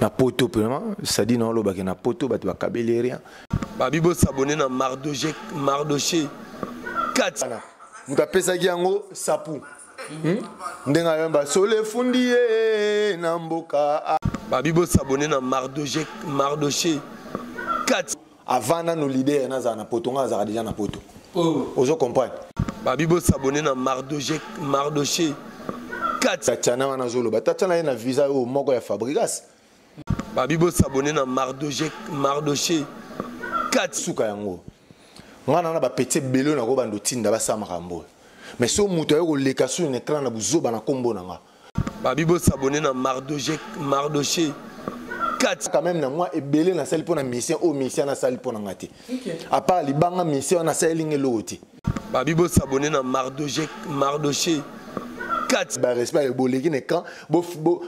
na poto vraiment sadi na olobaki na poto bato bakabeli rien babi bosabone na mardoche mardoche 4 moto apesaki yango sapu hmm? ndenge ayamba solo efundi ye na mboka babi bosabone na mardoche mardoche 4 avant nano leader nazala na poto ngai nazalaka deja na poto oh. ozo comprendre babi bosabone na mardoche mardoche tatiana wana azoloba tatiana ye na visa oyo moko ya fabrigas babi bosabone na mardoche mardoche kati suka yango ngai nana bapeti ebele oyo nakobanda otinda basala makambo oyo mais so moto aye koleka sur na ecran na buzoba na nkombo na ngai babi bo s'abonner na mardoche mardoche kati quand même na moi ebele na sali pona mission o mission na sali pona ngati à part libanga mission na sali ngelo oti babi bo s'abonner na mardoche mardoche kati barespect boleki na camp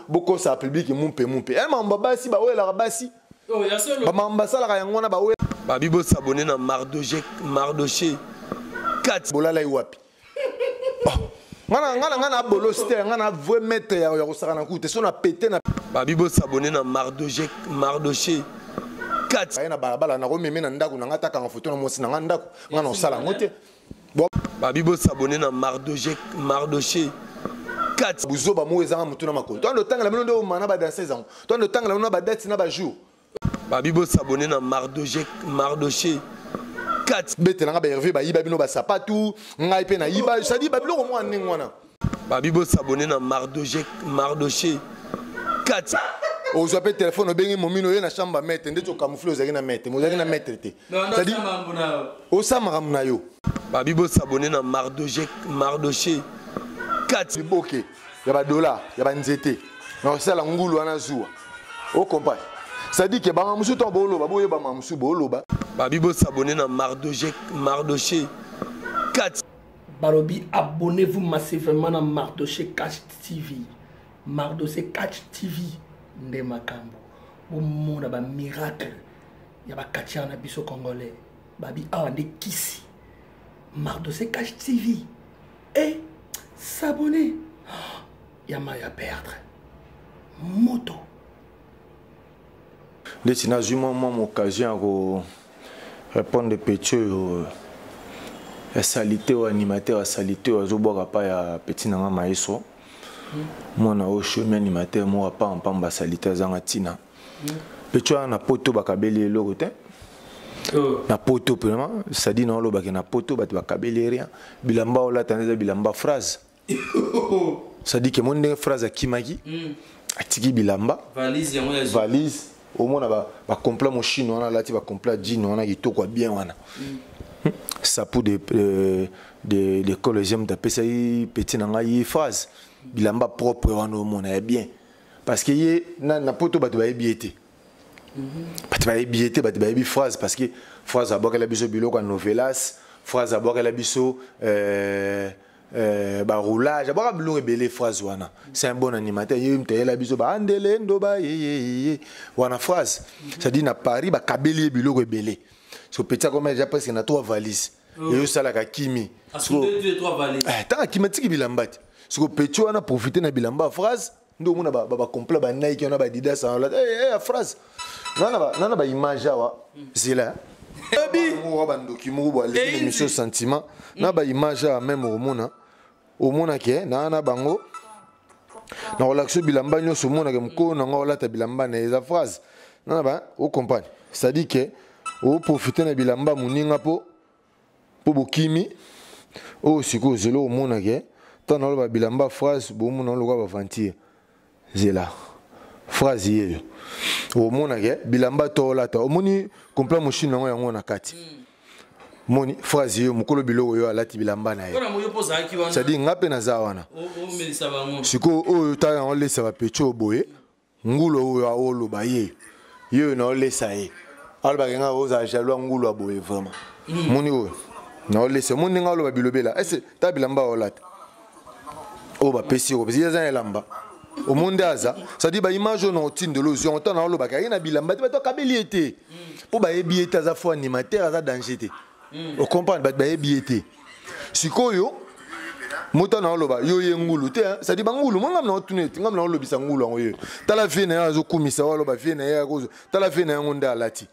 bokosa publike mumpe mumpe e eh, mambo basi bawelaka basi oh, bamambo basalaka yango wana bawela babi bosabone na mardoche mardoche kati bolalai wapi ngana ngana ngana bolosi te ngana vrai maître ya ya kosaka na kute so na pete na babi bo s'abonner na mardoche mardoche kati aye na balabala na komeme na ndako na nga ta kanga photo na mosi na nga ndako ngana osala ngo te babi bo s'abonner na mardoche mardoche kati buzoba mo ezanga mutuna makolo to ando tangala mino ndo mana ba danseuse yango to ando tangala mino ba date na ba jour babi bo s'abonner na mardoche mardoche kati betela nga ba herve bayiba bino basapatu ngai mpe nayiba sadi babiloko mwana ndenge wana babi bo s'abonner na mardoche mardoche kati ozwa mpe telefone obengi momino oye na chambre ya maître ndeti okamoufle ozalaki na maître mais ozalaki na maître te cetadire osa makambo na yo babi bosabone na mardoche mardoche kati boke ya ba dollars ya ba nzete na kosala ngulu wana zuwa o comprendre c'est-à-dire que banga mosusu ntango booloba boyeba ma mosusu booloba babi bosabone na mardoche mardoche 4 balobi abonnez-vous massivement na mardoche cash tv mardoche cash tv nde makambo bomona bamiracle ya bakatiare na biso congolais babi awa nde kisi mardoche cash tv et s'abonner ya mayo ya perdre moto ndeti nazwi mwa mwa occasion ya ko répondre petit oyo euh, ya salite oyo animateur ya salite oyo azobwaka pa ya petit na nga maeso mwana oyo shomi animateur moko apampamba salite azanga ntina pecho na poto bakabeli eloko te oh. na poto mpema sadi na olobake na poto bato bakabeli rien bilamba olata nde eza bilamba phrase sadi ke moni ndenge phrase akimaki mm. atiki bilamba valise omona bacompla moshine wana alati bacompla jine wana kitoko ya bien wana mm. hmm? sapu de, euh, de, de collegium tapesaki peti na ngai phrase bilamba propre wana omona ya bien parce que ye na, na poto bato bayebi ye te mhm. bato bayebi ye te bato bayebi phrase parce que phrase abwakela biso biloko ya novelas phrase abwakela biso euh, euh, baroulage abwaka biloko ebele phrase wana c'est un bon animateur ye moto ayela biso baandele ndoba yeyeye wana phrase mhm. c'est-à-dire na paris bakabeli ye biloko ebele so petit akoma deja presque na trois valise oh. eyo salaka kimi eh, tanga kimi atiki bilamba te siko petit wana profite na bilamba ya phrase nde omona bacomplet banaiki wana badidas ya eh, eh, phrase nana baimage awa hmm. zela oyebi bandoki moko bwa emission sentiment na baimage awa meme omona omonaki eh, naa na bango nakolakisa yo bilamba nyonso omonaki mokolo na ngai olata bilamba na eza phrase nana ba ocomprane cestadire ke oprofite na bilamba moninga mpo mpo bokimi oyo sikoyo zelo omonaki eh, ntango naloba bilamba phrase bomona lokola baventure zela phrase yeyo omonake bilamba to olata omoni kompla moshini yango yango na kati mm. moni phrase yo mokolo biloko yo alati bilamba na ye cestadire nga mpe naza wana sikoyo oyo ta yango olesa bapecho boye ngulo oyo aoloba ye ye oyo naolesa ye alobaka nga ozala jaloux ya ngulo ya boye vraiment mm. moni oyo naolesa moni ndenge aloba bilobela ese ta bilamba olata oyo bapesi yo kopesi eza na elamba omoni nde aza cestadire baimage oyo na otindelo ozwi yango ntango naolobaka aye na bilamba te bato akabeli ye te mpo bayebi ye te aza fo animateur aza danger te hmm. ocomprendre bato bayebi ye te sikoyo mota na oloba yo ye ngulu te cestadire bangulu mo ngam na otuna ete ngam na olobisa ngulu yango yo tala vie na ye azokumisa o aloba vie na ye tala vie na yango nde alati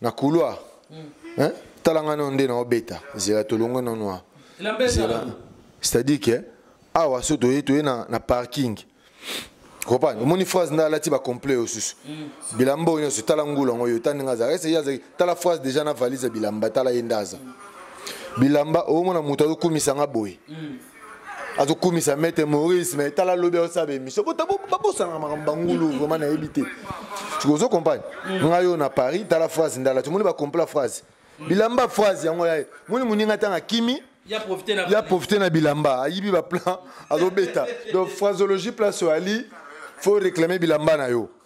na couloir hein tala nga nde na obeta zela tolongo na noir zela c'est-à-dire que awa so toye toye na, na parking comprendre omoni phrase nde alati bacomplet oyo susu mm. bilamba oyo nyonso tala ngula yango oyo ta ndenge azalaka ese ye azali tala phrase déjà na valise ya bilamba tala ye nde aza bilamba omona moto azokumisa nga boye mm. azokumisa maître maurice mais tala lobi aosala baémission babosanaka makambo bangulu vraiment nayebi te ozo compagne mm. ngai oyo na paris tala phrase ndala tomoni bacompla phrase bilamba phrase yango yaye moni moninga ntango akimi ya profite na bilamba ayibi baplan azobeta donc phraseologie place oyo ali faut réclamer bilamba na yo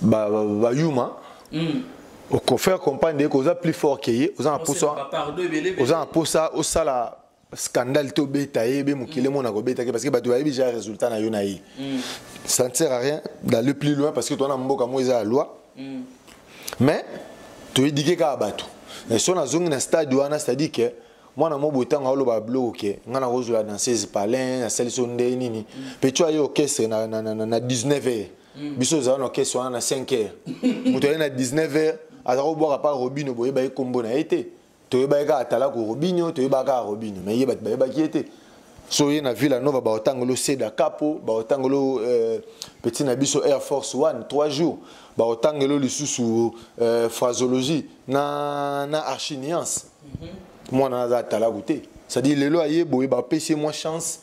ba ba, ba yuma mm. au faire comprendre que oza plus fort que ye oza na posa oza na posa osala scandale to beta ye be mokile mona ko beta ke parce que bato bayebi déjà résultat na yo na ye mm. ça ne sert à rien d'aller plus loin parce que toi na mboka mo eza loi mm. mais to éduquer ka bato et son azongi na stade wana c'est-à-dire que mwana mobo ntango aoloba babiloko ke ngai nakozwela danseuse palin asalisi oyo ndenge nini mpe tyo aye orchestre na, na, na, na 19 heure mm. biso ozala na orchestre wana na 5 heure moto aye na 19 heure aza kobwaka mpa robino boyebaki nkombo na ye te toyebaki kaka atalaku robinio toyebaka kaka robinio mai ye bato bayebaki ye te so oye na villa nova baotangolo seda capo baotangolo euh, petit na biso air force one trois jours baotangelo lisusu euh, phrasologie na, na archiniance mwana aza atalaku te cestadi lelo aye boye bapesi ye mwa chance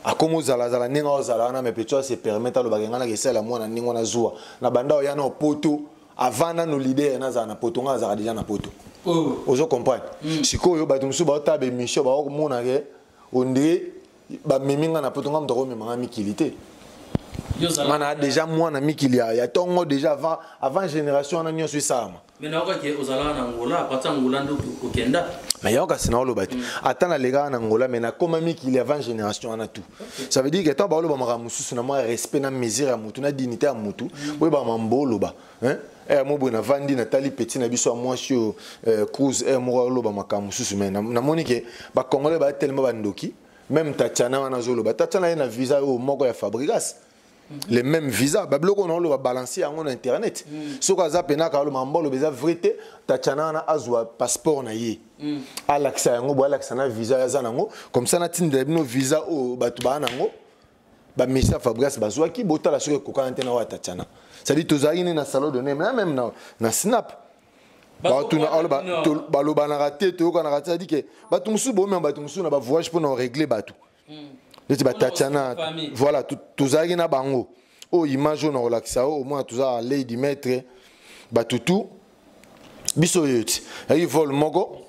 akoma ozalazala ndenge ozala wana me peto ase permete alobaka ngai naka esalela mwana ndenge wana zuwa na banda oya na opoto avant nano lider nazala na poto ngai azalaka deja na poto oh. ozo comprendre mm. sikoyo bato mosusu baotala bemission baokomona ke ondire bamemi ngai na poto ngai moto akomema ngai mikili te ngai na deja mwana mikili ya ntongo deja avant, avant génération wana nyonso esalama Mais nayoka ke ozalaka na Angola, apati Angola nde okenda. Mais yaoka sina oloba te. Ata na lega na Angola mais na koma miki il y avant génération na tout. Ça veut dire que tant ba oloba maka mususu na moi respect na mesure ya mutu na dignité ya mutu, boye ba mambo oloba. Hein? Eh mo boye na vandi na tali petit na biso moi sur eh, cruise eh mo oloba maka mususu mais na moni ke ba congolais ba tellement ba ndoki. Même Tatiana wana zoloba. Tatiana ye na visa yo moko ya Fabregas. Mhm. les mêmes visas babiloko oyo naoloba balanse yango na internet mhm. soki aza mpena akaloba mbaloba eza vrai te tatiana wana azwa passeport na ye mhm. alakisa yango boye alakisa na visa aza nango comme ça natindela bino visa oyo bato baa nango bamisa fabrigas bazwaki botala soki ekokana te na oyo ya tatiana cestadi tozalaki ne na salon de name na meme na, na snap batuna aloba balobanaka te toyokanaka te cestadi ke bato mosusu bomema bato mosusu na bavoyage mpo na oregle bato hmm. neti batatiana voilà tozalaki na bango oyo oh, image oyo nakolakisa yo omona toza lady maître batutu biso oyo ti ayaki vol moko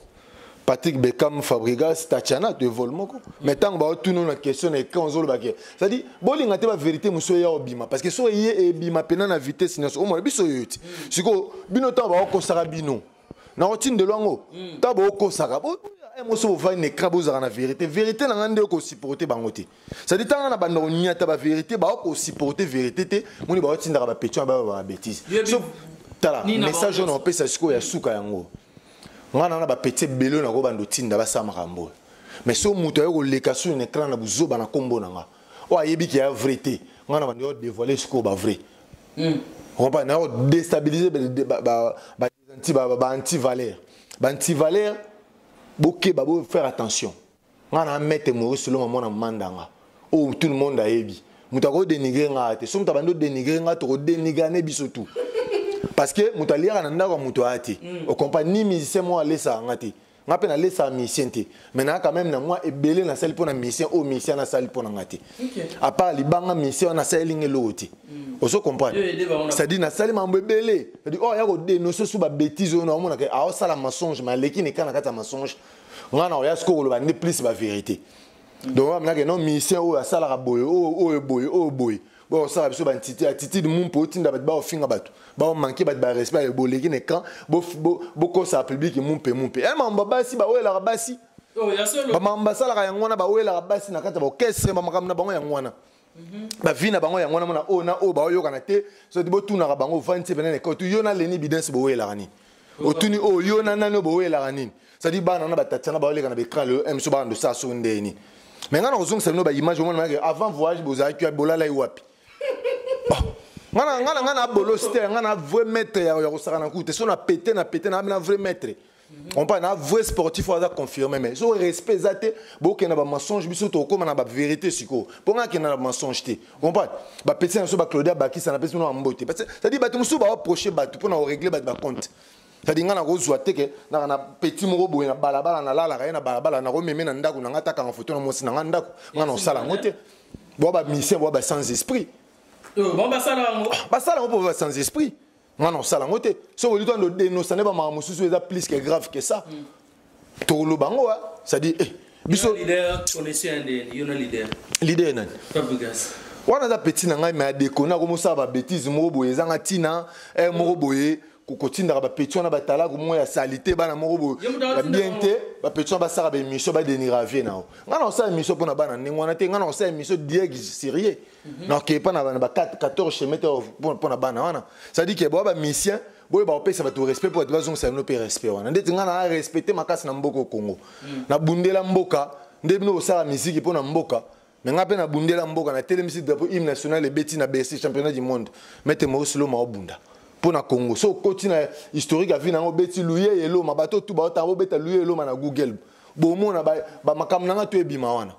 patrick beckham fabrigas tatiana to evole moko mais ntango baotuna na question na écran ozoloba ke cestadi bolinga te baverité mosusu eya obima parce que soki eye ebima mpena na vitesse nyonso omona biso oyo ti sikoyo bino ntango baokosaka bino nakotindelo yango hmm. ntango bookosaka eh, moso bovandi na ekra bozalaka na verité verité na ngai nde okosupporte bango te sadi ntanga na banda konyata baverité baokosupporte verité te moni baotindaka bapetion bayo bababetise tala message oyo naopesa sikoyo ya suka yango ngai na na bapeti ebele oyo nakobanda otinda basala makambo oyo mais so moto aye koleka soni na ekra na buzoba na nkombo na ngai oyo ayebi ke ya vrai te ngai na banda yo devoile sikoyo ba vrai mm. comprendre na déstabiliser ba ba ba anti ba ba anti valeur ba anti valeur bokeba bo faire attention nga na mete Maurice Longa mwana mandanga oh tout le monde ayebi moto ako dénigrer nga te so moto abandi dénigrer nga toko dénigrer ne biso tout parce que moto aliaka na ndako ya moto aya te okompa ni musicien moko alesaka nga te nga mpe nalesaka misien te mai naa quand même na mwa ebele nasali mpo na misien oyo misien wana asali mpo na nga te apart libanga misien wana asaleli nga eloko te hmm. ozo comprendre c'est-à-dire nasali mambo ebele cetadi oyo oh, aya kodenonse su babétise oyo naomonaka aosala mensonge mai aleki na eka na kati ya mensonge nga na oya siko koloba nde plus bavérité hmm. donc aminaka non misien oyo asalaka boye oyo boye oyo boye Bon, ça, biso ba ntiti, attitude mumpo otinda bat ba ofinga batu. Ba o manquer bat ba respect ya boleki ne kan, bo bo bo kosa public mumpe mumpe. Eh mamba basi ba wela basi. Oh, ya solo. Ba mamba sala ka yangwana ba wela basi na kata ba orchestre ba makamna bango yangwana. Mhm. ba vie na bango yango wana mona oyo na oyo baoyokana te soki botunaka bango ovandi se pene na ekoti yo na leni bidens boyelaka nini otuni oyo oh, yo na nani oyo bowelaka nini cetadi bana na batati na baoleka na baecran lelo eh, biso bana ndosala soki ndeye nini me ngai nakozongisa bino baimage omona manake avant voyage bozalaki ya bolalai wapi oh, ngana ngana ngana abolosi te ngana vrai maître ya kosakana kutu te so na pete na pete na na vrai maître ompa na vrai sportif oyo aza confirme mais so respect eza te bokenda bamensonge biso tokokóma na bavérité sikoyo mpo ngai akenda na bamensonge te comprendre bapesi na biso baclaudia bakisa napesi bino bambote cetadi bato mosusu baoproche bato mpo na koregle bato bacompte cetadi ngai nakozwa teke naka na petit moko boye na balabala nalalaka ye na balabala nakomeme na ndako na ngai atakanga foto na mwasi na ngai ndako ngai na kosala yango te boa bamisien boa basans esprit basala yango mpo ba sans esprit nga na osala yango te soki olito ando denosa nde bamaka mosusu eza plus que grave que ça mm. tokoloba yango wa c'est-à-dire eh, biso leader ye nani wana aza peti na ngai me adekona akomosala babétise moko boye ezanga ntina eh, moko boye kotindaka bapeti wana batalaka moko ya salite bana moko boye ya bien te bapeti wana basaka baémission badenira vie na yo ngai na kosala émission mpo na bana ndenge wana te ngai na kosala émission diège sérieux Mhm. na okepa na bana ba 14 chemin te mpo na bana wana cestadi ke boa bamisien boye bakopesa bato respect mpo bato bazongisa bino mpe respect wana ndeti ngai naa respecte makasi na mboka okongo mhm. nabundela mboka nde bino kosala miziki mpo na mboka me ngai mpe nabundela mboka natelemisi drapeau hymne national ebeti na bercy championnat du monde mete maurice loma obunda mpo na congo so okoti na historique ya vi na yango obeti luye eloma bato otu baotanga bobeta luye eloma na google bomona bamakambo na ngai to ebima wana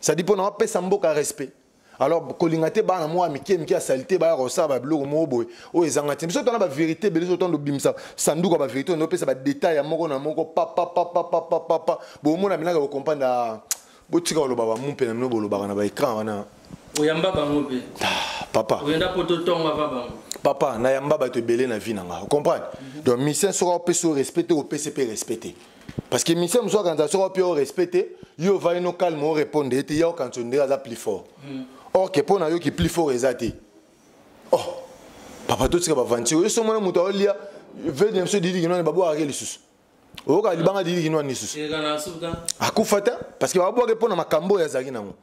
ça dit pona pesa mboka respect alors kolinga te bana mwa mike mike ya salite baya kosala babiloko moko boye oyo ezanga te biso tona baverité ebele biso tona obimisa sanduku ya baverité oyo opesa badetail ya moko na moko papapapapapapa bomona binaka bokompanda ah, botika koloba bamumpe na bino bolobaka na baecran wana oyamba bango mpe ah, papa oyenda mpo totonga va bango papa nayamba bato ebele na vie na nga ocomprendre mhm. donc mission soki opesi yo respecte opesi mpe respecte parce que mise mosusu akanisa soko mpe orespect te yo ovai no calme orépondre ye te ya okanisa ondire aza plus fort hmm. or ke mpo na yo ki plus fort eza te oh papa totika bavanti oyo so mwana moto aolia vede na biso didi kinwani babwakake lisusu oyoka libanga didi kinwani lisusu akufa te parce que babwake mpo na makambo oyo azalaki nango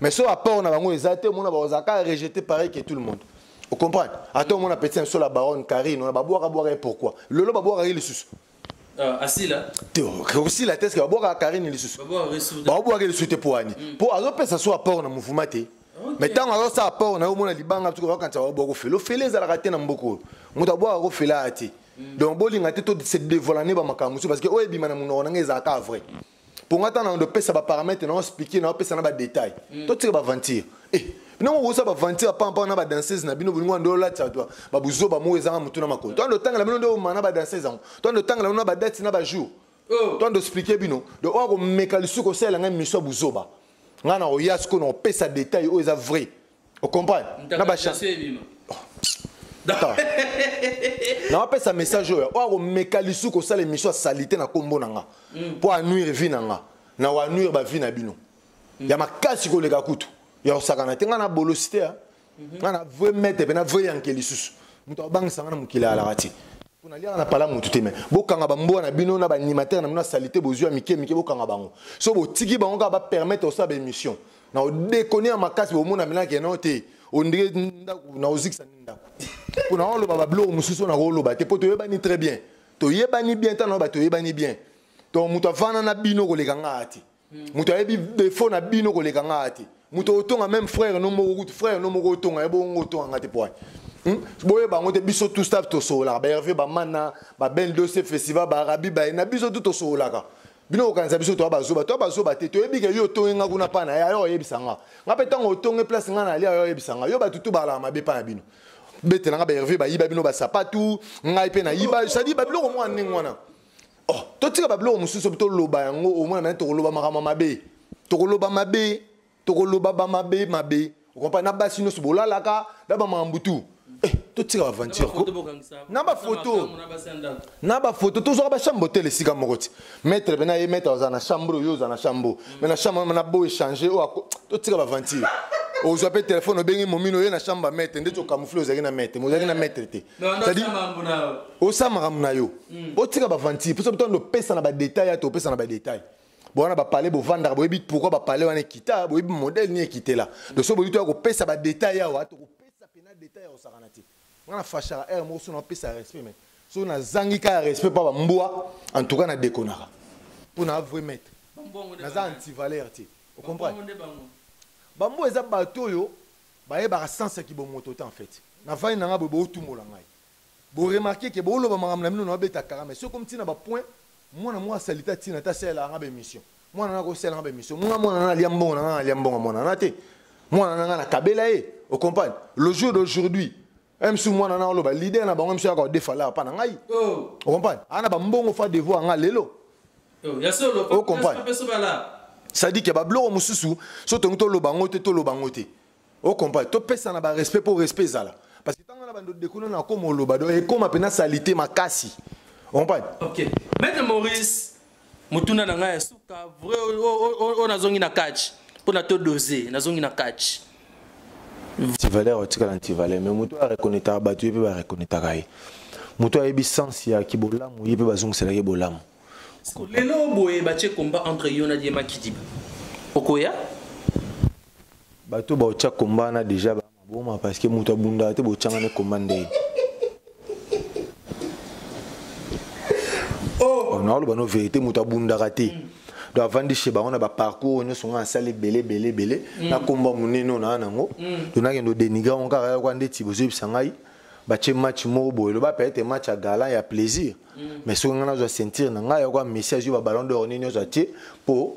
mais so apport na bango eza te omona bakozala kaka rejete pareil que tout le monde ocomprendre ata omona petit nso la baronne carine ona babwaka bwaka ye pourquoi lelo babwakaki lisusu euh, asila te okosila te eske babwakaka carine lisusu babwakaki lisusu te poani mpo mm. azopesa so apport na mouvement te mais ntango azosala apport na yo omona libanga tuka bakanisa babwaka ofele ofele ezalaka te na mboka oyo moto abwakaka ofele aya te mm. donc bolinga te to se devoilane bamakambo mosusu parce que oyo ebima na monoko na ngai ezalaka vrai mm. mpo nga ntango nando pesa baparametre nao explike nao pesa na badetail mm. totika baventure eh, nango okosa baventure apampaka na badanseuse na bino bolingo ando olatisa to babuzoba moko ezanga motu na makolo to ando otangela bino nde omana badanseuse yango to ando otangela bino na badati na bajour oh. to ando explike bino donc oya komeka lisusu kosalela ngai miso ya buzoba ngai nakoya sikoyo nakopesa detail oyo eza vrai o comprendre na ba nawapesa message oyo oyo akomeka lisu kosala émission ya salite na nkombo na nga mpo hmm. anuire vie na nga na wanuire bavie na bino hmm. ya makasi koleka kutu ya kosakana te ngai na bolosi te mhm. ngai na vrai mete mpe na vrai yanke lisusu moto abangisa ngai na mokili alaka te mpo naliaka na pala motu te me bokanga bambwa na bino na baanimatere na bino ya salite bozwi ya mike mike bokanga bango so botiki bango kaka bapermettre kosala baémission na odekoni ya makasi omona milaki yango te ondire ndako na ozikisa nini ndako mpo na oloba babiloko mosusu oyo nakoloba te mpo toyebani très bien toyebani bien ntango na bato toyebani bien donc moto avanda na bino koleka ngaa te hmm. moto ayebi defo na bino koleka ngaa te moto otonga meme frère no moko kutu frère no moko otonga ye bongo otonga nga te po hmm? boye bango te biso tout staff tosololaka ba herve bamana ba bel dose festival baarabi baye na biso tu tosololaka bino kokanisa biso toya bazoba toya bazoba te toyebi ke yo otongi nga kuna pana ya yo oyebisa nga nga mpe ntango otongi place nga na lia yo oyebisa nga yo bato tu balaka mabe mpa na bino betela nga baherve bayiba bino basapatu ngai mpe nayiba sadi babiloko mwana ndenge wana oh totika babiloko mosusu mpe toloba yango omona mane tokoloba makambo mabe tokoloba mabe tokoloba bamabe mabe okompa na basi nyonso bolalaka na bamakambo tu eh, totika baventure ko na bafoto na bafoto tozwaka bachambre hotel esika moko ti maître pena ye maître ozala na chambre oyo ozala na chambre mai na chambre na bo échange oyo totika baventure ozwa mpe telefone obengi momino oye na chambre ya maître ndeti okamoufle ozalaki na maître ozalaki na maître te cetadi osala makambo na yo otika baventure mposa botando opesa na badetail ate opesa na badetail bowana bapale bovandaka boyebi pourkui bapale wana ekita boyebi modele nini ekitela donc so boyebi toya kopesa badetail awa tokopesa mpena detail ya kosakana te nga na fashaka aire moko so napesa respect mai soki nazangi kaka respect mpa bambwa en tout cas nadekonaka mpo na avrai maître naza antivaleur te ocomprendre bambwa eza bato oyo bayebaka sense ya kibomoto te en fait navandi na ngai boye bootumola ngai Bo remarquer que bo loba makambo na bino na ba beta kara mais soki ekomi ti na ba points mwana moko asalite atina te asalelaka nga ba emission mwana na akosalela nga ba emission nga mwana na alia mbongo na nga alia mbongo mwana na te mwana na nga na kabela ye o comprendre le jour d'aujourd'hui msu mwana na oloba leader na bango msu yaka odefa la pa na ngai oh. o comprendre ana ba mbongo fa devoir nga lelo oh, ya solo o comprendre c'est-à-dire que ba bloko mosusu so tongi toloba ngo te toloba ngo te o comprendre topesana ba respect mpo respect ezala parce que ntango wana bandodi dekuna na koma oloba do ekoma mpena salite makasi comprendre ok maître maurice motuna na ngai ya suka vrai oyo nazongi na catch mpo na to dose nazongi na catch antivaleur otikala antivaleur mais moto areconnetaka bato ye mpe bareconnetaka ye moto ayebi sens ya kibolamu ye mpe bazongisela ye bolamu lelo boye batye combat entre yo na diema kidiba okoya bato baotya komba wana deja bamaboma parce que moto abundaka te botyanga ne komba ndenge oh. oh, naoloba no verité moto abundaka te mm. donc avandi chez bango na baparcours oyo nyonso ngai asala ebele ebele ebele mm. nakomba monene oyo naa nango mm. donc nakende odenigra ngo kaka yoka ndeti bozoyebisa ngai batye match moko boye loba peut être match ya galant ya plaisir mais soki ngai nazwa ceinture na ngai yoka messi azwi babalon d'or nini nyonso atye mpo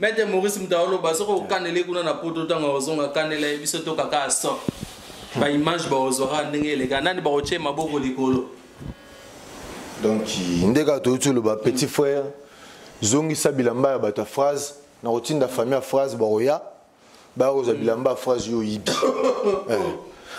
maitre maurice moto aoloba soki okanele kuna na poto ntango akozonga kanela ye biso to kaka aso baimage bakozwaka ndenge eleka nani bakotye maboko likolo donc nde kaka toyuti oloba petit frère zongisa bilamba ya bato ya phrase nakotinda famille ya phrase bakoya bakozwa bilamba ya phrase yo oyibi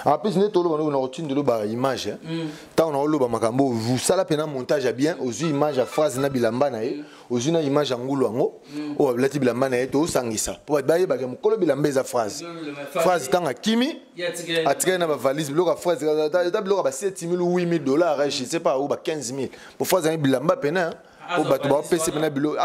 en plus nde toloba ndoki nakotindelo ba image ntango eh. mm. naoloba makambo osala mpena montage ya bien ozwi image ya phrase na bilamba na ye mm. ozwi na image ya ngulu yango mm. oyo abilati bilamba na ye tosangisa mpo bato bayebaka mokolo bilamba eza phrase phrase ntango akimi atikali na bavalise biloko ya phrase ata biloko ya ba 7 000 8 000 dollars eh, je sais pas ou ba 15 000 mpo phrase yangi bilamba mpena mpo bato baopesi mpena biloko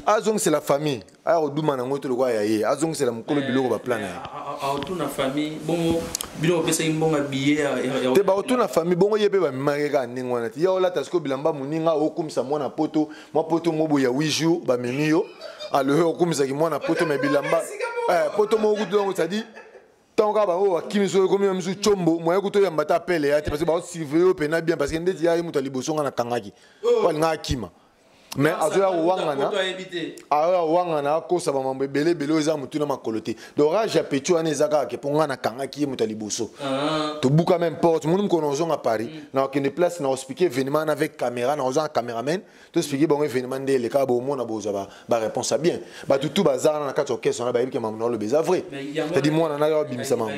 azongisela famille aya koduma nango te lokola ya ye azongisela mokolo eh, biloko baplan na ye aotuna famille bongo bino bopesaki mbongo ya biye te baotuna famille bongo ye mpe bamemaki kaka ndenge wana te ya olata sikoyo bilamba moninga okumisa mwana poto mwa poto mobo ya 8 jour bamemi yo aloyo okumisaki mwana poto me bilamba eh, poto moko kutu yango cetadire ntango kaka bango bakimi soki ekomi misu combo moye kutu oyamba ata apele ya te parce que baosurveille yo mpena bien parce que ndeti ya ye moto ya liboso ngai nakangaki oh. po alingaka akima mais azoya kowangana aoya kowangana akosa bamambo ebele ebele oyo eza motu na makolo te donc rage ya petit wana eza kaka ke mpo ngai nakangaki ye moto ya liboso ah. tobuka meme porte moni mokolo na ozonga paris mm. na okende place na ospike evenement na avec caméra na ozanga cameraman to expliquer bango événement nde eleka bomona bozwa ba, ba réponse ya bien bato tout baza wana na kati ya orchestre wana bayebi ke mamu na oloba eza vrai tadi mwana nanga babimisa mamu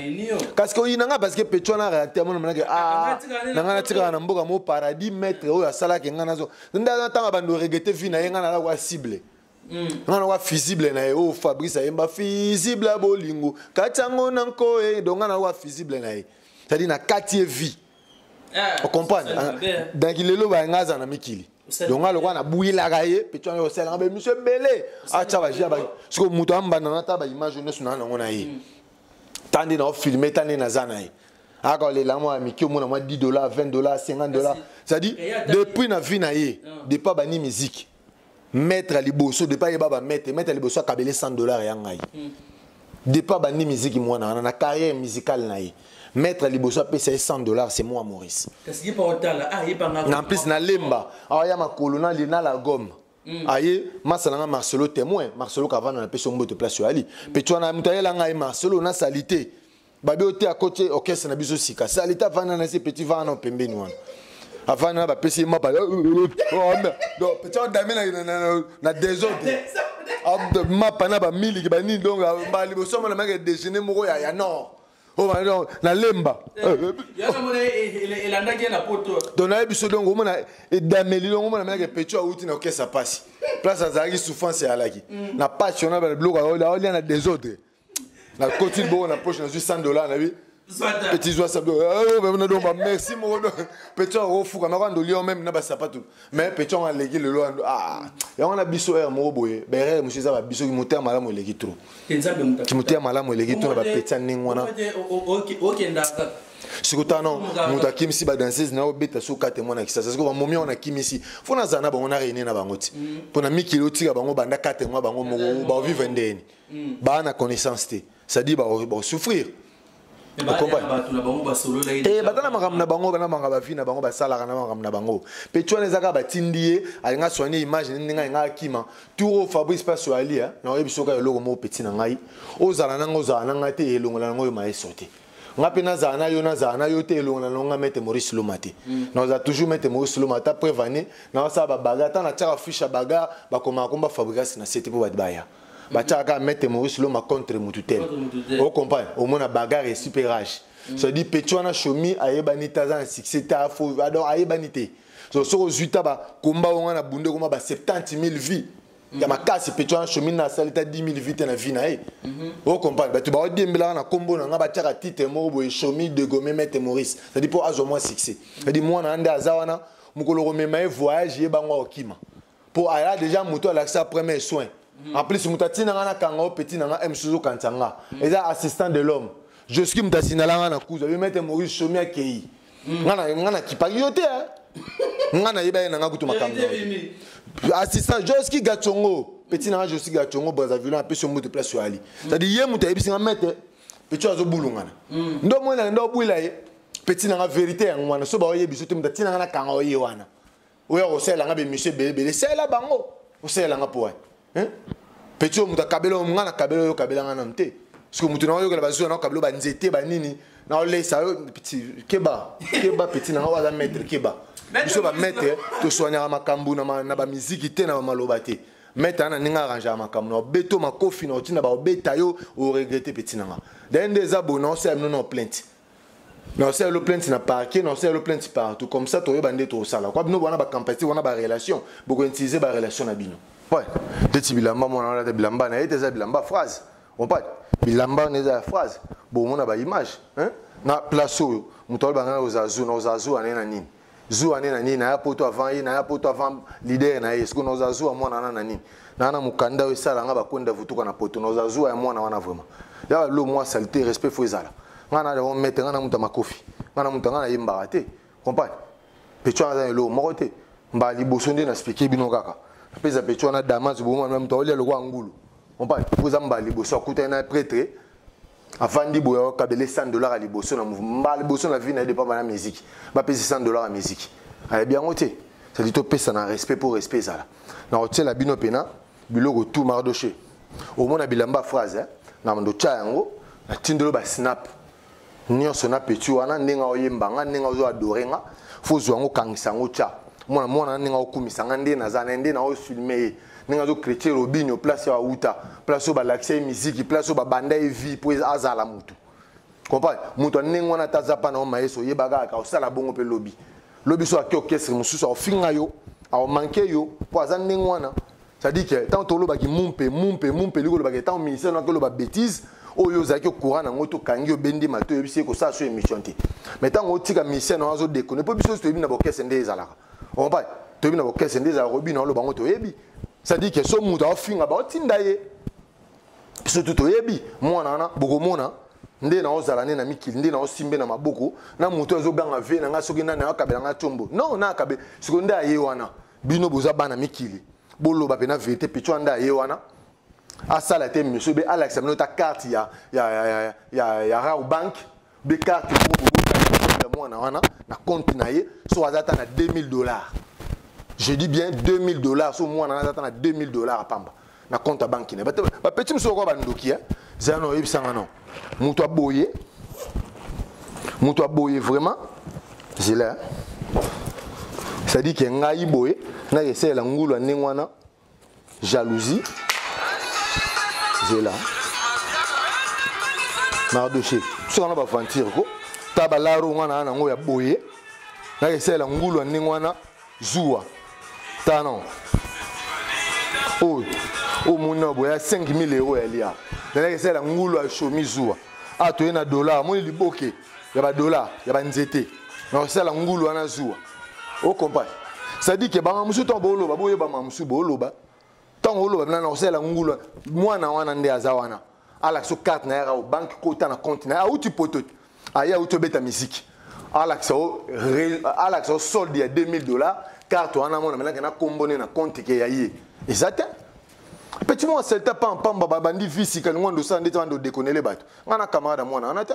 kasi ke oyina ngai parce que petro wana réacteur mwana manake a na ngai natikaka na mboka mo paradis maître oyo asalaki ngai nazo nde ntango abandi oregete vie na ye ngai nalakwa cible Mm. nga nawa fusible na ye oyo oh, fabrice ayemba fusible ya bolingo kati yango na nko e eh, donga nawa fusible na ye cetadi na kati ye vie Eh, ocomprendre danki lelo baye ngai aza na mikili donc ngai lokola nabuyelaka ye petu yango osalaka baemission ebele atya baji ya sikoyo moto ambanda nata baimage oyo nyonso naa nango na ye mm. ta nde naofilme ta nde naza na ye aka olela mwa ya mike omona mwa 10 dollar 20 dollar 50 dollar c'est-à-dire depuis na vie na ye ah. depa bani miziki maître ya liboso depa ayeba bamaitre maître ya liboso akabele 100 dollars ya ngai mm. depa abandi miziki mwana wana na carrière musicale na ye maître ya liboso apesa ye 100 dollars c'est moi maurice ah, na plus nalemba awa ya makolo na la gomme Mm. aye masa na ngai marcelo témoin marcelo kavanda napesi yo mbote place oyo ali mpe twana moto ayela ngai marcelo na salite babe ote akoti orchestre na biso sika sa leta avanda na se petit vana na pembeni wana avanda na bapesi ye mapa petit adame na desordre mapa na bamiliki banini donc mbala liboso mona meke déjeuner moko ya nord Oh, na lemba don naye biso donc omona edameli donc omona meyaka pecho awuti na okesa mpasi place azalaki souffrance eyalaki mm. na mpasi ona biloko aolia na desordre na koti bongo na poche nazwi 100 dollar na bi petit zwa sabi na donc ba merci moko donc petit yango ofuka na kwando lio meme na basapatu mais petit yango aleki lelo ando ah yango na biso heure moko boye berere mosusu eza babiso kimotema malamu eleki trop kimotema malamu eleki trop na bapeti ya ndenge wana sikota no moto akimisi badanseuse na obeta so kate mwana kisasa siko bamomi yango nakimisi fo nazala na bango na reine na bango ti mpo na mikili otika bango banda kate mwa bango moko bavivre ndeni mm. baa na connaissance te c'est-à-dire bakosouffrir eh, eh, baza na makambo na bango bana makambo bavi na bango basalaka na makambo na bango mpe ti wana eza kaka batindi ye alinga soigne image ndenge alinga akima tour oyo fabrice mpe asoali eh, na oyebi soki eloko moko peti na ngai ozala nanga ozala na ngai te elongola nango oyo mayeso te nga mpe nazala na yo nazala na yo te elongo na nonga mete maurice loma te mm. naza toujours mete maurice loma ata preuve ane naosala babaga ata natiaka fiche ya baga bakomaka komba fabricasi na sete mpo bato baya batiaka kaka maître maurice loma contre mutu te ocomprane omona bagare esi mpe rage cedi peti wana shomi ayebani te aza na succès te donc ayebani te soki ozwi ta bakomba yango na bunde ekoma ba 70 000 vie ya makasi peti wana shomi na asali ta 10 000 vie te na vie na ye ocomprane bato baodiembelaka na nkombo na ngai batiaka titre moko boye shomi degome maître maurice cedi mpo azwa mwa succès cedi mwana na nde aza wana mokolo komema ye voyage ye bango akokima mpo aya deja moto alakisa premier soin mm. en plus moto atina nga nakanga o petit na nga msusu okanisa nga mm. eza assistant de l'homme joski moto asindala nga na kuzu abi mete maurice somi akei mm. nga nakipaki yo te nga nayeba ye na nga kutu makambo assistant joski gacongo petit na nga joski gacongo brazzaville apesi yo mbutu place oyo ali cetadi ye moto ayebisi nga mete petit oyo azobulungana mm. ndo omoni na nda obwila ye petit na nga verité yango wana so baoyebi so te moto atina nga nakanga oye wana oyo akosalela nga bemission ebele ebele salela bango osalela nga mpo wapi peti oyo moto akabela oyo nga nakabela oyo okabela nga nanu te soki moto naoyokela bazuzi wana okabela banzete banini naolesa yo peti keba keba peti nanga oyo aza maître keba biso bamaître toswanyaka makambo na bamiziki te na bamaloba te maître ana ndenge arrangaka makambo na obeto makofi na otinda baobeta yo oregrete peti nanga daye nde eza boye naosala bino na plainte na osala yo plainte na parquet na osala yo plainte partout comme ça toyeba nde tosala kwa bino wana bacampacité wana barelation bokointilise barelation na bino ouais ndeti bilamba mwana wana ata bilamba na ye te eza bilamba phrase ompati bilamba wana eza ya phrase bomona baimage na place oyo moto alobanga na ozala zu na ozala zu wana ye na nini zuwa ne na nini naya poto avant ye naya poto avant leader na ye sikoyo naoza zuwa mwana wana na nini naa na mokanda oyo esala nga bakwenda vutuka na poto naoza zuwa ya mwana wana vraiment ya balo mwa salite respect fo ezala nga na yango mete nga na moto ya makofi nga na moto nga na yembaka te comprendre pecho aza eloko moko te mbala liboso nde na spike bino kaka napesa pecho wana damas bomana moto aolia lokola ngulu comprendre mpo eza mbala liboso akutani na pretre avandi boye akabele 100 dollars ya liboso na mbala liboso na vie na ye depa bana miziki bapesi 100 dollars ya miziki ayebi yango te sadi topesa na respect mpo respect ezala na kotyela bino mpena biloko tout mardoche omona bilamba phrase eh? na ndotya yango natindelo basnap nyonso na peti wana ndenge oyemba nga ndenge ozo adore nga fo ozwa yango okangisa yango tya mwana mwana na ndenge okumisa nga nde naza na ye nde na ofilme ye ndenge azo chrétien robinio place ya auta place oyo balakisa ye miziki place oyo babanda ye vie mpo azala motu comprendre moto ya ndenge wana ata aza mpana o mayeso oyeba kaka osala bongo mpe lobi lobi so ake orchestre mosusu aofinga yo aomanke yo mpo aza ndenge wana cestadire ke ntango tolobaki mumpe mumpe mumpe elingi kolobaka ntango ministère naki oloba bétise oyo ozalaki okura na yango tokangi obendi mato oyebisi ye kosala so émission te mais ntango otika ministère na yo azodekone mpo biso nyonso toyebi na bokese nde ezalaka opai toyebi na orchestre nde ezalaka obina oloba yango toyebi c'est-à-dire que so moto aofinga baotinda ye surtout toyebi mwana wana bokomona nde naozala nde na mikili nde naosimbe na maboko na moto azoganga ve na ngai soki nani akabela ngai ntombo non na akabe sikoyo nde aye wana bino boza bana mikili boloba mpe na verité picho ande aye wana asala te monsieur be alakisa bino ta carte ya, ya, ya, ya, ya, ya rau bank de carte moko bobotaki ya mwana wana na compte na ye so aza ata na 2000 dollars je dis bien 2000 dollars so mwana wana aza ata na 2000 dollars apamba na compte ya banki na ye bapeti mosusu bakoya bandoki zela na oyebisanga no moto aboye moto aboye vraiment zela c'est-à-dire ke ngai boye nakesalela ngulu ya ndenge wana jalousie zela mardoche soka na baventure ko ta balaro nga na yango ya boye naka esalela ngulu ya ndenge wana zuwa ta non oyo oyo moni na boya 5000 euro ya lia nalaka esalela ngulu ya shomi zuwa a toye na dollar moni liboke ya ba dollars ya ba nzete na kosala ngulu wana zuwa o comprendre c'est-à-dire que banga musu to boloba boyeba ma musu boloba ntango oloba bina na kosala ngulu wana mwana wana nde aza wana alakisa o carte na ye o banke kota na compte na ye auti poto te aye auti obeta miziki alakisa o alakisa o solde ya 2000 dollars carte wana mona melake na kombo ne na compte ke ya ye eza te petit mwa selta pa mpamba babandi visi kalingo ando osala ndeti wana ndodekonele bato ngai na camarade ya mwana wana te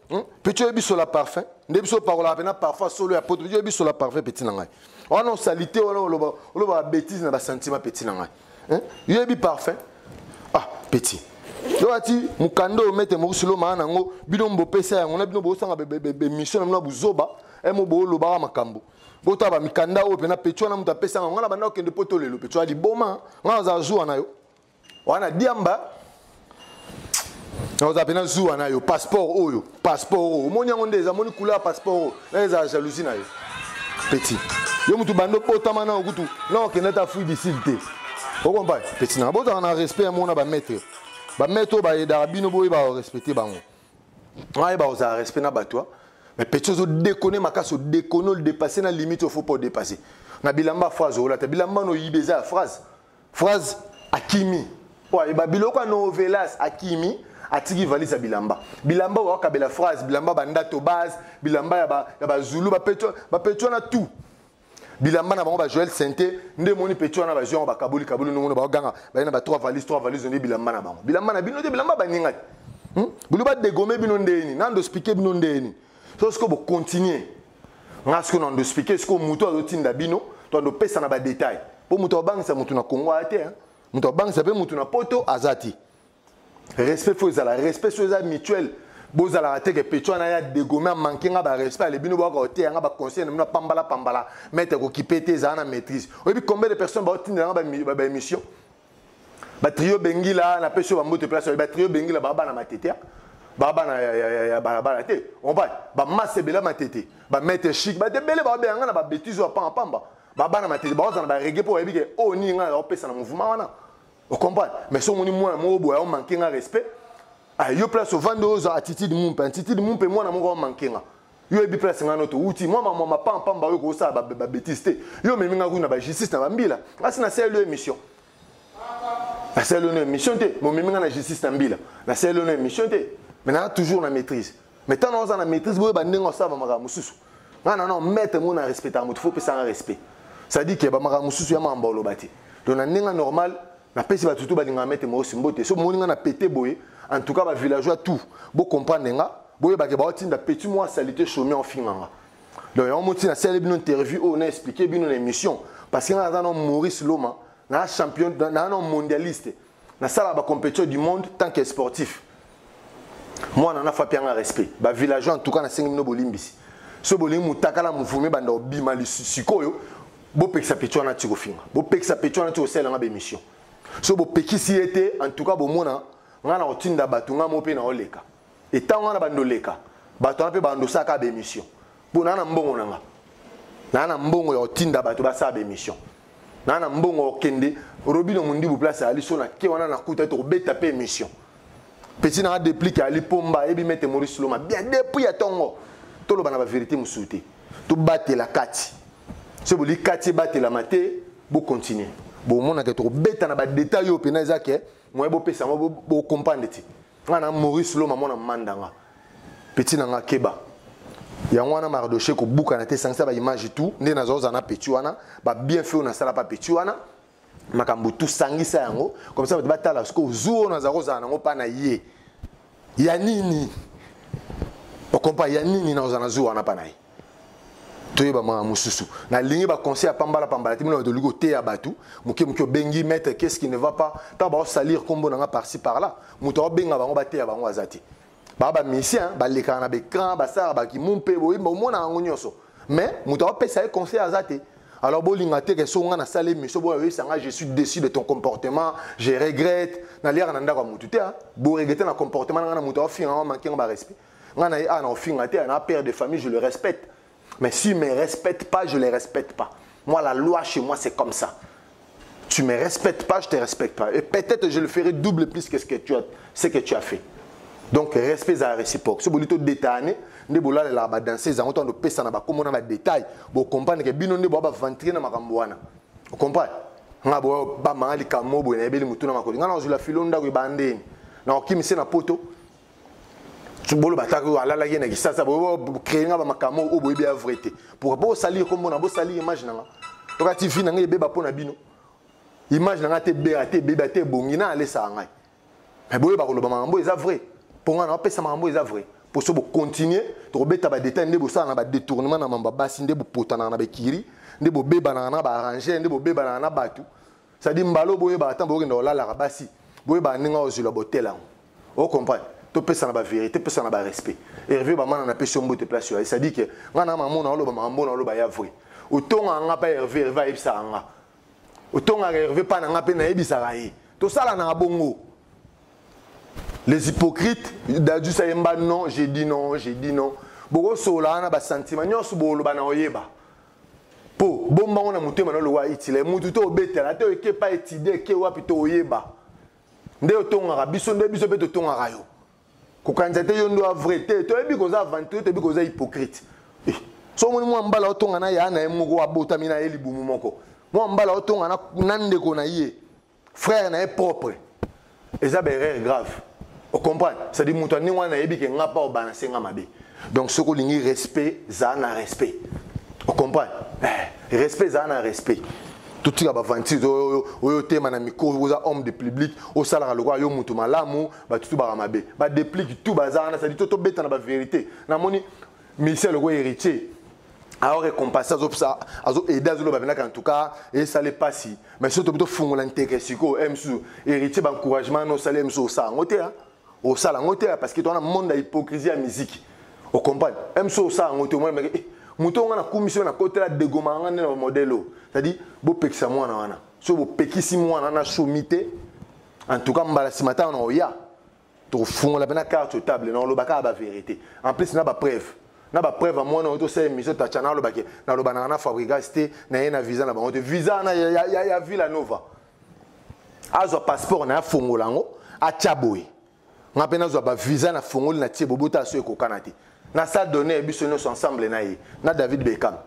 Hmm? Petit oyebi sola parfum nde biso opakolaka mpena parfum solo ya poto petit oyebi sola parfum petit na ngai wana osalite wana oloba oloba bêtise na basentiment petit na ngai hmm? yoyebi parfum ah petit yowati mokanda oyo mete mokusi lomaa na yango bino mbopesa yango na bino bosanga bemission na bino ya buzoba emo boolobaka makambo bota bamikanda oyo mpena petit wana moto apesa yango ngai na banda okende poto lelo petit wana liboma ngai nazala zuwa na yo wana diamba oza pena zuwa na yo passeport oyo passeport oyo omoni yango nde eza moni couleur ya passeport oyo na ezala jalousie na yo petit yo motu banda obotama nao kutu na okende ata fruit du sud te okompa petit nanga bozala na respect ya mona bamaître bamaître oyo bayedaka bino boyeba korespecte bango ayeba kozala respect na bato mais petit ozo dekone makasi odekone odepasse na limite ofo mpo odepasse na bilamba phrase olata bilamba no oyiba eza ya phrase phrase akimi oyo ayeba biloko ya novelas akimi atiki valise ya bilamba bilamba oyo akabela phrase bilamba bandato base bilamba ya bazulu bapeti wana tout bilamba na bango ba joel sente nde moni peti wana bazwi yango bakaboli kaboli ndongo baganga baye na ba trois valise trois valise nde bilamba na bango bilamba na bino te bilamba baninga te hmm? bino badegome bino ndeni nando spike bino ndeni so sikoyo bocontinue nga sikoyo na ndo explike sikoyo moto azotinda bino to ando pesa na badetail mpo moto abangisa moto na kongo aya te moto abangisa mpe moto na poto aza te respect fo ezala respect so eza mutuel bozalaka te ke pecho wana ya degome amanke nga barespect ale bino boyaka koteya nga baconseil na bino apambalapambala mete kokipe te ezala na maîtrise oyebi combien de personnes baotinda nga baémission ba, ba batrio bengila na pesi ba mbote place ba trio bengila ba bana matete hein. ba bana ya ya ya ba bala te on va ba masse bela matete ba mette chic ba debele ba benga na ba bêtise wa pamba pamba ba bana matete ba ozana ba reggae pour yebike o oh, ni nga ya opesa na mouvement wana o comprend mais so moni mwana moko boya o manquer nga respect ah yo place ovande oza attitude mumpe attitude mumpe mwana moko o manquer nga yo oyebi place ngai no touti mwa mamwa mapampamba oyo kosala babetise te yo omemi ngai kutu na bajustice na bambila asi nasaleli yo émission nasaleli yo na émission te momemi ngai na justice na mbila nasaleli yo na émission te mais naa toujours na maîtrise mais ntango naoza na maîtrise boyeba ndenge osala bamakambo mosusu ngai nano maître ngo na respectaka moto fo opesanga respect cestadire ke bamakambo mosusu ya mambo oloba te donc na ndenge normal napesi bato tu balingaka mete moyosi mbote so moni nga na pete boye en tout cas ba villageois tout bo comprendre nga boyebake baotinda petit mwa salite chomie ofinga nga donc yango moti nasali bino interview oyo na explike bino na émission parce que nga naza na maurice loma na champion na na mondialiste nasala ba compétition du monde tant que sportif mwana na fapi yanga respect ba villageois en tout cas nasengi bino bolimbisi so bolingi mutakala muvumi banda obima sikoyo bopekisa peti wana ti kofinga bopekisa peti wana ti kosalela nga bemission so bopekisi ye te en tout cas bomona ngai na kotinda bato ngai mo mpe na oleka etango wana bando oleka bato wana mpe bandosaka bemission mpo naa na mbongo na nga naa na mbongo ya kotinda bato basala baémission naa na mbongo ya kokende robino mondibu place ayali so na ke wana nakuta ete kobeta mpe émission peti naa deplike ayali mpomba ayebi mete maurice loma bien depuis ya ntongo toloba na baverité mosusu te tobatela kati soki boli kati ebatelama te bocontinue bomonaka tokobeta na badetail oyo mpena eza ke moye bopesa yango bokomprendre te nga na maurice loma mwana mandanga peti na nga keba yango wana mardoche kobukana te esangisa baimage tout nde nazwa ozala na peti wana babienfe oyo nasala pa peti wana makambo tu sangisa yango comme ça bato batala sikoyo zuwa oyo naza kozala nango mpa na ye ya nini okompa ya nini nakozala na zuwa wana mpa na ye toyeba makambo mosusu nalingi baconseil ya pambala pambala te bino bato olingi koteya bato moke moke obengi maître qu'est ce qui ne va pas ntango baosalir nkombo na nga parci par là moto aobenga bango bateya bango aza te baa bamisien balekaka na baecran basalaka bakimumpe boyimba omonaka yango nyonso mais moto aopesa ye conseil aza te alors bolinga te ke so nga nasala émission boya oyebisa nga je suis déçu de ton comportement je regrette naliaka na ndako ya motu te boregrette na comportement na nga na moto aofinga nga manke nga barespect nga na ye awa na kofinga te na père de famille je le respecte mais si me respecte pas je le respecte pas moi la loi chez moi c'est comme ça tu me respectes pas je te respecte pas et peut-être je le ferai double plus que ce que tu as ce que tu as fait donc respect ezala réciproque so bolingi todetane nde bolalelaka badanseuse yango ntango topesa na bakombo na badetail bocomprendre ke bino nde boya baventure na makambo wana ocomprendre nga boya bamanga likambo boye nayebeli motuna makoli ngai nazozwila filo ndako ebandeni nakokimisi na poto boloba ata alalaki na kisasa bocree nga bamakambo oyo boyebi ya vrai te pourkoi bosali ekombo na bosali image na nga toka ti vi na ngai ebeba mpo na bino image na ngai te ebea te ebeba te ebongi na alesaka ngai me boyeba koloba makambo eza vrai mpo ngai naopesa makambo eza vrai mpo so bokontinue tokobeta badetail nde bosala na badetournement na mambo ya basi nde bopotanaka na bekiri nde bobebanaka na baarrangere nde bobebanaka na bato cestadire mbala oyo boyebaka ntango bokenda kolalaka basi boyebaka ndenge ozwila botel yango ocomprendre topesana baverité pesana barespect herve bamana napesi yo mbote place oyo cestadire ke ngai na mama na oloba makambo na oloba ya vrai otongaka ngai mpa herve herve ayebisaka ngai otongaka herve mpa na ngai mpe nayebisaka ye tosalanaka bongo les hypocrites dajus ayemba non je dis non je dis non bokosola wana basentiment nyonso boloba na oyeba po bomba ngo na motema na lowa itila mutu to obetela ata oyeke pa etide eke wapi to oyeba nde otongaka biso nde biso mpe totongaka yo kokanisa te yo ndo avrai te toyebi koza aventure toyebi koza hypocrite eh, so omoni mwa mbala otonga na ya na ye moko abotami na ye libumu moko mwa mbala otonga na ndeko na ye frère na ye propre eza ba erreur grave ocomprendre cestadi moto ya ndenge wana nayebi ke nga mpa obalanse nga mabe donc soki olingi respect zaa na respect ocomprendre eh, respect zaa na respect totika baventure oyo oyo otema na mikolo oza homme de public osalaka lokola yo moto malamu bato tubaka mabe badeplique tu baza wana sadi to tobeta na baverité namoni Michel lokola héritier alors récompense azo ça azo aider azo loba benaka en tout cas et ça les passe mais surtout plutôt fungola nteke siko emsu héritier ba encouragement no sale emsu ça ngote hein au ça ngote parce que toi on monde hypocrisie à musique au compagnie emsu ça ngote moi mais eh, moto nga na commission na kotela degoma nga na modèle c'est à dire bo pekisa mwana wana so bo pekisi mwana na somite en tout cas mbala simata na oya tofungola mpena carte sur table na oloba kaka baverité en plus na bapreuve na bapreuve ya mwana oyo tosala émission tacha na alobaki nalobanaka na fabrigas te naye na visa na bango te visa wana ya, ya, ya, ya villa nova azwa passeport na ye afongola yango atya boye nga mpe nazwa bavisa na fongoli na tie bobota aso ekokana te na sa donne biso nyonso ensemble na ye na david beckham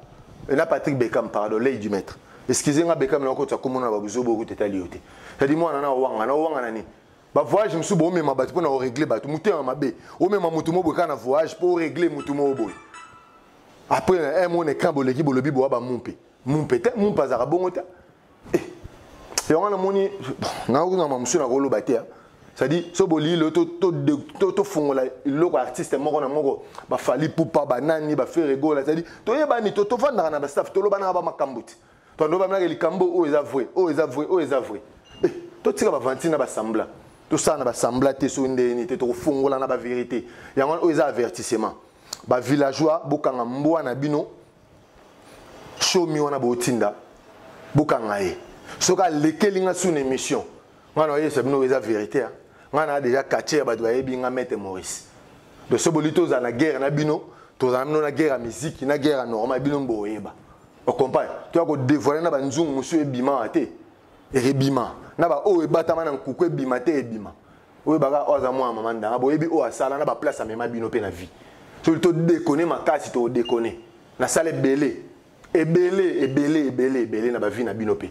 e na patrick beckham pardon lei du maître excuse nga beckham na okotisa komona na babuzobo okuta etali yo te yadi mwana na owanga na owanga na nini ba voyage mosusu boomema bato mpo na oregle bato motema mabe omema moto moko boye kaka na voyage mpo oregle moto moko boye après na eh, un mona ekran boleki bolobi boa bamumpe mumpe te mumpe azalaka bongo te eh, yango namoni naokunama mosusu nakoloba te ah. c'est-à-dire so bolii lelo tofongola eloko ya artiste moko na moko bafali pupa banani baferegola c'est-à-dire toyebani tofandaka na bastaff tolobanaka bamakambo te tando bamelaka likambo oyo eza vrai oyo eza vrai oyo eza vrai eh, totika bavanti na basambla tosala na basambla te soki ndenge nini te tokofongola na baverité yango wana oyo eza avertissement bavillageois bokanga mbwa na bino shomi wana botinda bokanga ye soki alekeli nga sous na émission ngai nayebisa bino oyo eza verité hein. ngai naa déjà quartier ya bato bayebi nga mete maurice donc so boli tozala na guerre na bino tozala bino na guerre ya miziki na guerre ya normal bino boyeba ocompagne to ya kodevoile na banzungu mosusu ebimaka te ebima na baoyo ebatama na nkuku ebima te ebima oyo baka oyo aza mwana mama ndanga boyebi oyo asala na baplace amema bino mpe na vie soki todekone makasi tokodekone nasala ebele ebele ebele ebele ebele na bavi na bino mpe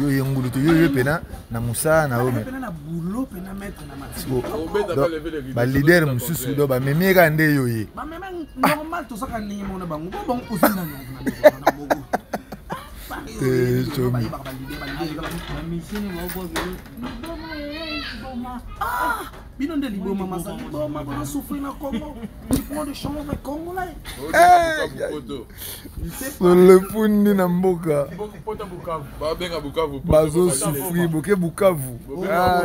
yo ye ngulu te yo ye mpena na mosala na yo baleader mosusu do bamemi ye kaka nde yo ye bino nde liboma mazali liboma bana souffrir na congo du point de change congolais solefundi na mboka bazosufri boke bukavu ah,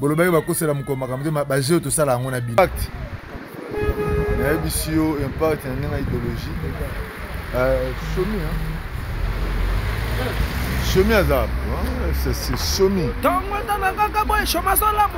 bolobaki bakosela mokolo makambo te bajeo tosala yango na bino nayebisi yo impact na ndenge ya idéologie euh, somi somi aza somi ntongo etana kaka boye shoma azolamu